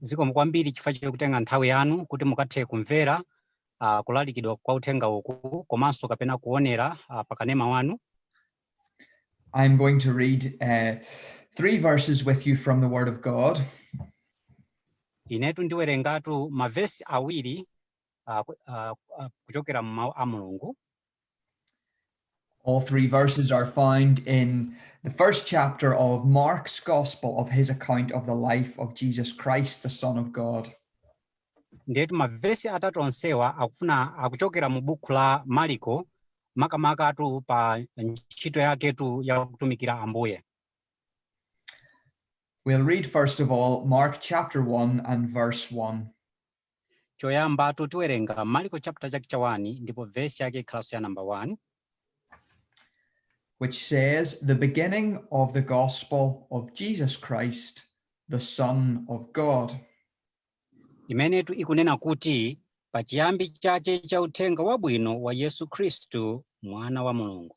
zikomo kwambiri chifukwa chokutenga nthawi yanu kuti mukathe kumvera uh, kulalikidwa kwa uthenga uku komanso kapena kuonera uh, pakanema wanu I'm going to read uh, three verses with you from the Word of God. inetu ndiwerengatu mavesi awiri uh, ku- uh, uh, kuchokera mu mawu a mulungu All three verses are found in the first chapter of Mark's Gospel of his account of the life of Jesus Christ, the Son of God. ndiyetu mavesi atatu onsewa akufuna akuchokera mu buku la mariko makamakatu pa ntchito yaketu ya kutumikira ambuye We'll read first of all Mark chapter 1 and verse 1. Choyambatu tiwerenga Marko chapter chake cha 1 ndipo verse yake ikhalanso ya number 1. Which says the beginning of the gospel of Jesus Christ, the Son of God. Imenetu ikunena kuti pachiyambi chache cha uthenga wabwino wa Yesu Khristu mwana wa Mulungu.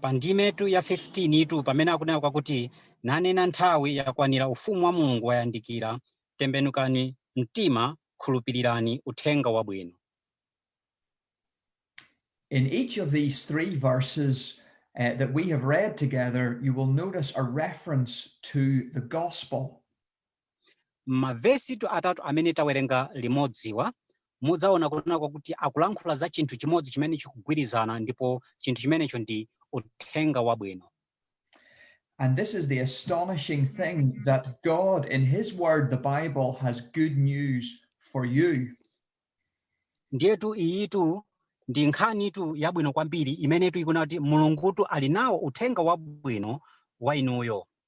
Pa ndimetu ya 15 tu pamene akunena kwakuti, Nanena nthawi yakwanira ufumu wa Mulungu wayandikira, tembenukani mtima khulupirirani Uthenga Wabwino. In each of these three verses uh, that we have read together, you will notice a reference to the gospel. M'mavesitu atatu amene tawerenga limodziwa, mudzaona kunena kwakuti akulankhula za chinthu chimodzi chimene chikugwirizana ndipo chinthu chimenecho ndi Uthenga Wabwino. And this is the astonishing thing that God, in His Word, the Bible, has good news for you. Ndiyetu iyitu ndi nkhanitu yabwino kwambiri imenetu ikunena kuti Mulungutu ali nawo uthenga wabwino wa inuyo.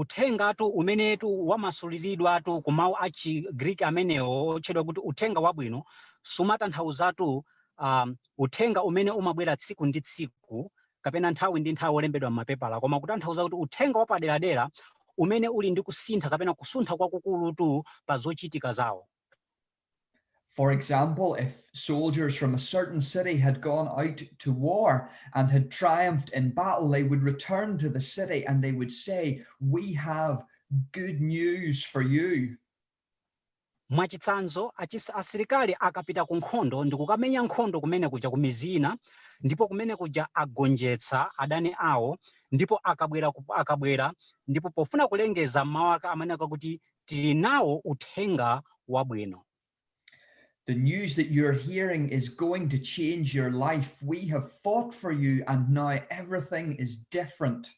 Uthengatu umenetu wamasuliridwatu ku mawu a chi Greek amenewo otchedwa kuti Uthenga Wabwino sumatanthauzatu um, uthenga umene umabwera tsiku ndi tsiku kapena nthawi ndi nthawi olembedwa m'mapepala koma kutanthauza kuti uthenga wapaderadera umene uli ndi kusintha kapena kusuntha kwakukulutu pa zochitika zawo. For example, if soldiers from a certain city had gone out to war and had triumphed in battle, they would return to the city and they would say, We have good news for you. mwachitsanzo achis- asilikali akapita ku nkhondo ndi kukamenya nkhondo kumene kuja ku midzi ina ndipo kumene kuja agonjetsa adani awo ndipo akabwera ku- akabwera ndipo pofuna kulengeza mawu ake amanena kuti Tili nawo uthenga wabwino. The news that you're hearing is going to change your life. We have fought for you and now everything is different.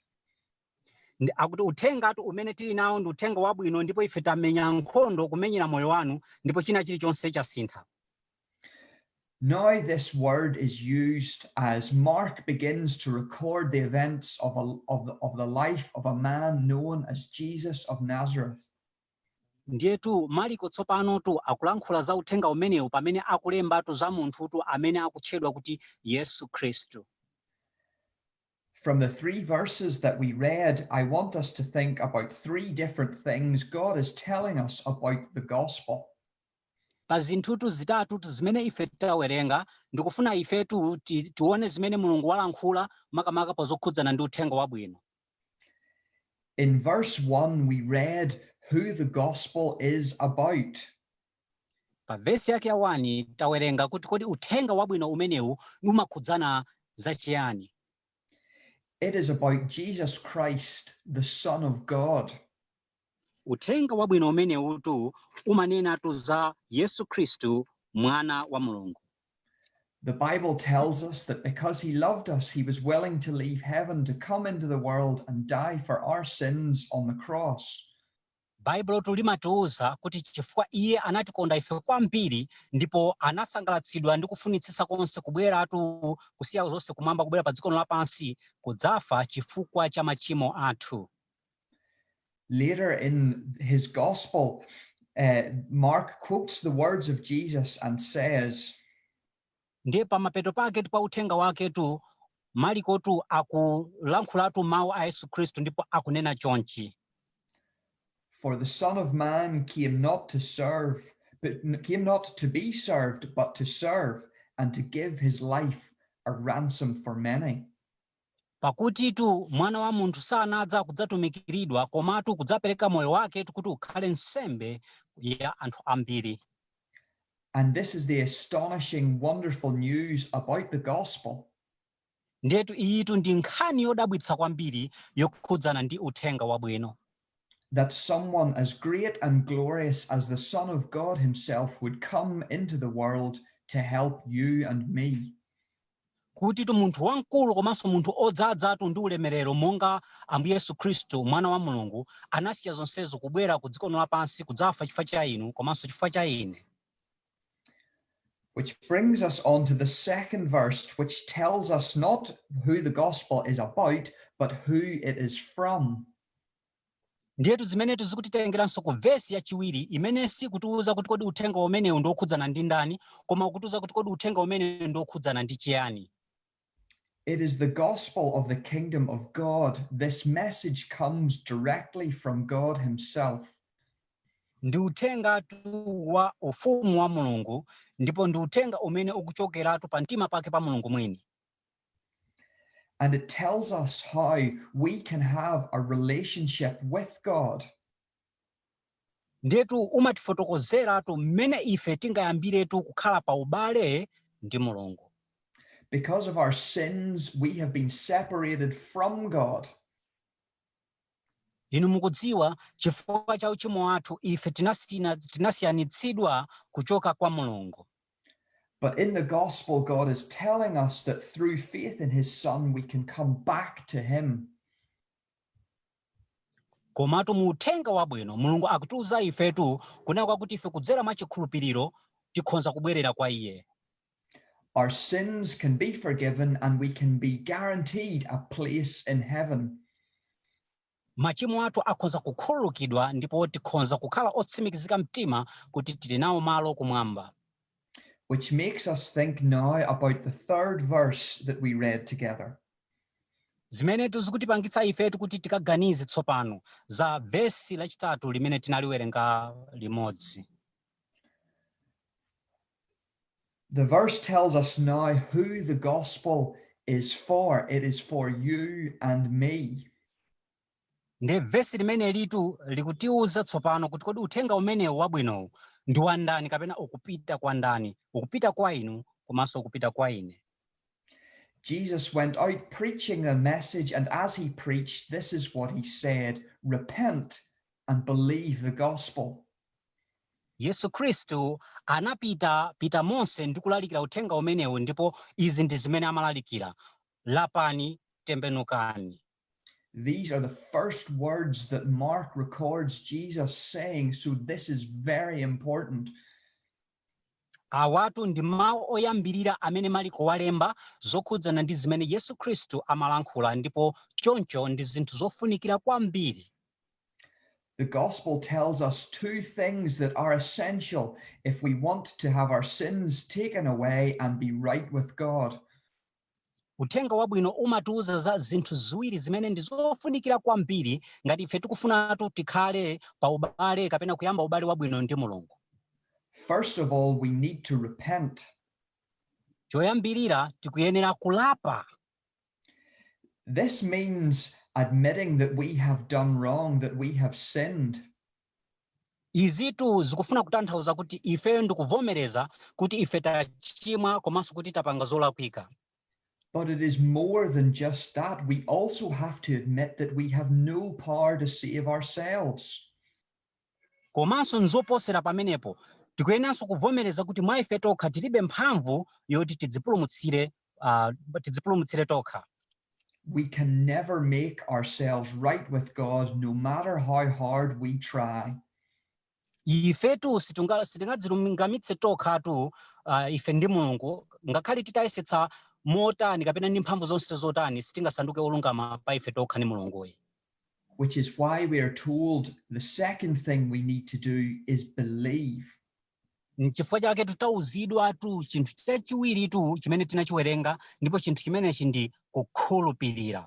Ndi- Akuti uthengatu umene tili nawo ndi uthenga wabwino ndipo ife tamenya nkhondo kumenyera moyo wanu ndipo china chilichonse chasintha. Now this word is used as Mark begins to record the events of, a, of, the, of the life of a man known as Jesus of Nazareth. ndiyetu Maliko tsopanotu akulankhula za uthenga umenewu pamene akulembatu za munthutu amene akutchedwa kuti yesu khristu From the three verses that we read, I want us to think about three different things God is telling us about the gospel. pa zinthutu zitatutu zimene ife tawerenga, ndikufuna ifetu ti, tione zimene Mulungu walankhula makamaka pa zokhudzana ndi uthenga wabwino. In verse 1 we read who the gospel is about. Pa vesi yake ya 1 tawerenga kuti kodi uthenga wabwino umenewu umakhudzana za chiyani? It is about Jesus Christ, the Son of God. Uthenga Wabwino umenewutu umanenatu za Yesu Khristu, Mwana wa Mulungu. The Bible tells us that because he loved us, he was willing to leave heaven to come into the world and die for our sins on the cross. Baibulotu limatiuza kuti chifukwa iye anatikonda ife kwambiri ndipo anasangalatsidwa ndi kufunitsitsa konse kubweratu kusiya zonse kumwamba kubwera pa dzikono lapansi kudzafa chifukwa cha machimo athu. Later in his gospel, uh, Mark quotes the words of Jesus and says, ndiye pamapeto paketu pa uthenga waketu malikotu akulankhulatu mawu a yesu khristu ndipo akunena chonchi for the son of man came not to serve but came not to be served but to serve and to give his life a ransom for many Pakutitu Mwana wa munthu sanadza kudzatumikiridwa, komatu kudzapereka moyo waketu kuti ukhale nsembe ya anthu ambiri. And this is the astonishing, wonderful news about the gospel. Ndiyetu iyitu ndi nkhani yodabwitsa kwambiri yokhudzana ndi uthenga wabwino. That someone as great and glorious as the Son of God himself would come into the world to help you and me. kutitu munthu wamkulu komanso munthu odzadzatu ndi ulemerero monga Ambuye Yesu Khristu, Mwana wa Mulungu, anasiya zonsezo kubwera ku dzikono lapansi kudzafa chifukwa cha inu komanso chifukwa cha ine. Which brings us on to the second verse, which tells us not who the gospel is about, but who it is from. Ndiyetu zimenetu zikutitengeranso ku vesi yachiwiri imene sikutiuza kuti kodi uthenga umenewu ndi wokhudzana ndi ndani, koma ukutiuza kuti kodi uthenga umenewu ndi wokhudzana ndi chiyani. It is the gospel of the kingdom of God. This message comes directly from God himself. Ndi uthengatu wa ufumu wa Mulungu ndipo ndi uthenga umene ukuchokeratu pa mtima pake pa Mulungu mwini. And it tells us how we can have a relationship with God. Ndetu umatifotokozeratu mmene ife tingayambiretu kukhala pa ubale ndi Mulungu. Because of our sins, we have been separated from God. Inu mukudziwa, chifukwa cha uchimo wathu ife tinasina, tinasiyanitsidwa kuchoka kwa Mulungu. But in the gospel, God is telling us that through faith in his Son, we can come back to him. Komatu mu uthenga wabwino, Mulungu akutiuza ifetu kunena kwakuti ife kudzera mwa chikhulupiriro tikhonza kubwerera kwa iye. Our sins can be forgiven and we can be guaranteed a place in heaven. machimo athu akhonza kukhululukidwa ndipo tikhonza kukhala otsimikizika mtima kuti tili nawo malo kumwamba which makes us think now about the third verse that we read together zimenetu zikutipangitsa ifetu kuti tikaganize tsopano za vesi lachitatu limene tinaliwerenga limodzi the verse tells us now who the gospel is for. It is for you and me. nde vesi limenelitu likutiuza tsopano kuti kodi uthenga umenewu wabwinowu ndi wa ndani kapena ukupita kwa ndani ukupita kwa inu komanso ukupita kwa ine Jesus went out preaching the message, and as he preached, this is what he said Repent and believe the gospel. Yesu Khristu anapitapita monse ndi kulalikira uthenga umenewu ndipo izi ndi zimene amalalikira. Lapani, tembenukani. These are the first words that Mark records Jesus saying, so this is very important. Awatu ndi mawu oyambirira amene Maliko walemba zokhudzana ndi zimene Yesu Khristu amalankhula ndipo choncho ndi zinthu zofunikira kwambiri. The Gospel tells us two things that are essential if we want to have our sins taken away and be right with God. Uthenga wabwino umatiuza za zinthu ziwiri zimene ndi zofunikira kwambiri ngati ife tikufunatu tikhale pa ubale kapena kuyamba ubale wabwino ndi Mulungu. First of all, we need to repent. Choyambirira tikuyenera kulapa. This means admitting that we have done wrong, that we have sinned. Izitu zikufuna kutanthauza kuti ife ndikuvomereza kuti ife tachimwa komanso kuti tapanga zolakwika. But it is more than just that, we also have to admit that we have no power to save ourselves. Komanso nzoposera pamenepo, tikuyenanso kuvomereza kuti mwa ife tokha tilibe mphamvu yoti tidzipulumutsire uh, tidzipulumutsire tokha we can never make ourselves right with God no matter how hard we try. ifetu sitingadzilungamitse tokhatu uh, ife ndi mulungu ngakhale titayesetsa motani kapena ndi mphamvu zonse zotani sitingasanduke olungama pa ife tokha ndi mulunguyi which is why we are told the second thing we need to do is believe N'chifukwa chaketu tauzidwatu chinthu chachiwiritu chimene tinachiwerenga ndipo chinthu chimenechi ndi kukhulupirira.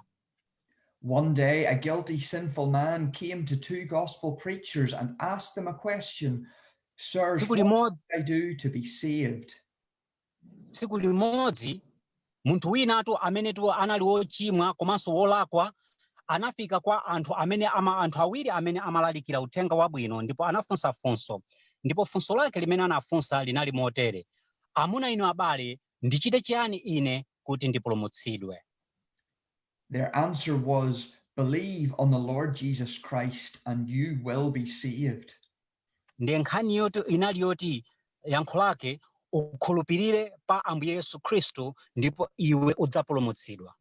One day a guilty, sinful man came to two gospel preachers and asked them a question, Sirs, Tsiku what limodzi must I do to be saved? tsiku limodzi munthu winatu amenetu anali wochimwa komanso wolakwa anafika kwa anthu amene ama anthu awiri amene amalalikira uthenga wabwino ndipo anafunsa funso ndipo funso lake limene anafunsa linali motere amuna inu abale ndichite chiyani ine kuti ndipulumutsidwe Their answer was, Believe on the Lord Jesus Christ and you will be saved. ndiye nkhani yoti inali yoti yankho lake ukhulupirire pa ambuye yesu khristu ndipo iwe udzapulumutsidwa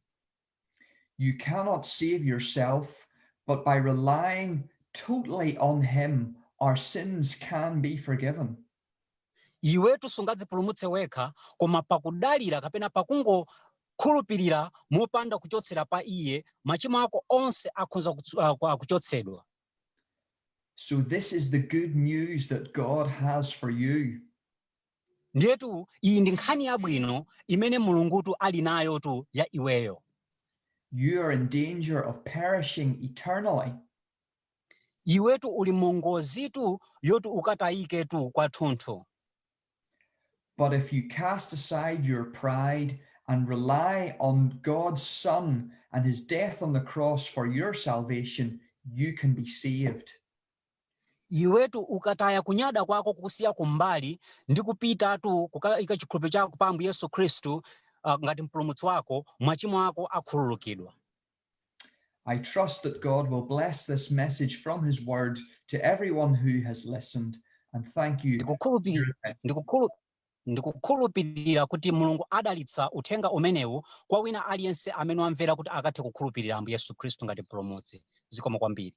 you cannot save yourself but by relying totally on him our sins can be forgiven iwetu sungadzipulumutse wekha koma pakudalira kapena pakungokhulupirira mopanda kuchotsera pa iye machimo ako onse akhonza ah, kuchotsedwa So this is the good news that God has for you. Ndiyetu iyi ndi nkhani yabwino imene Mulungutu ali nayotu ya iweyo. You are in danger of perishing eternally. Iwetu uli mungozitu yoti ukatayiketu kwathunthu. But if you cast aside your pride and rely on God's Son and his death on the cross for your salvation, you can be saved. iwetu ukataya kunyada kwako kusiya kumbali ndi kupitatu kukaika chikhulupiriro chako pa ambuye yesu khristu uh, ngati mpulumutsi wako machimo ako akhululukidwa I trust that God will bless this message from his word to everyone who has listened and thank you. ndikukhulupirira kuti mulungu adalitsa uthenga umenewu kwa wina aliyense amene wamvera kuti akathe kukhulupirira ambuye yesu khristu ngati mpulumutsi zikomo kwambiri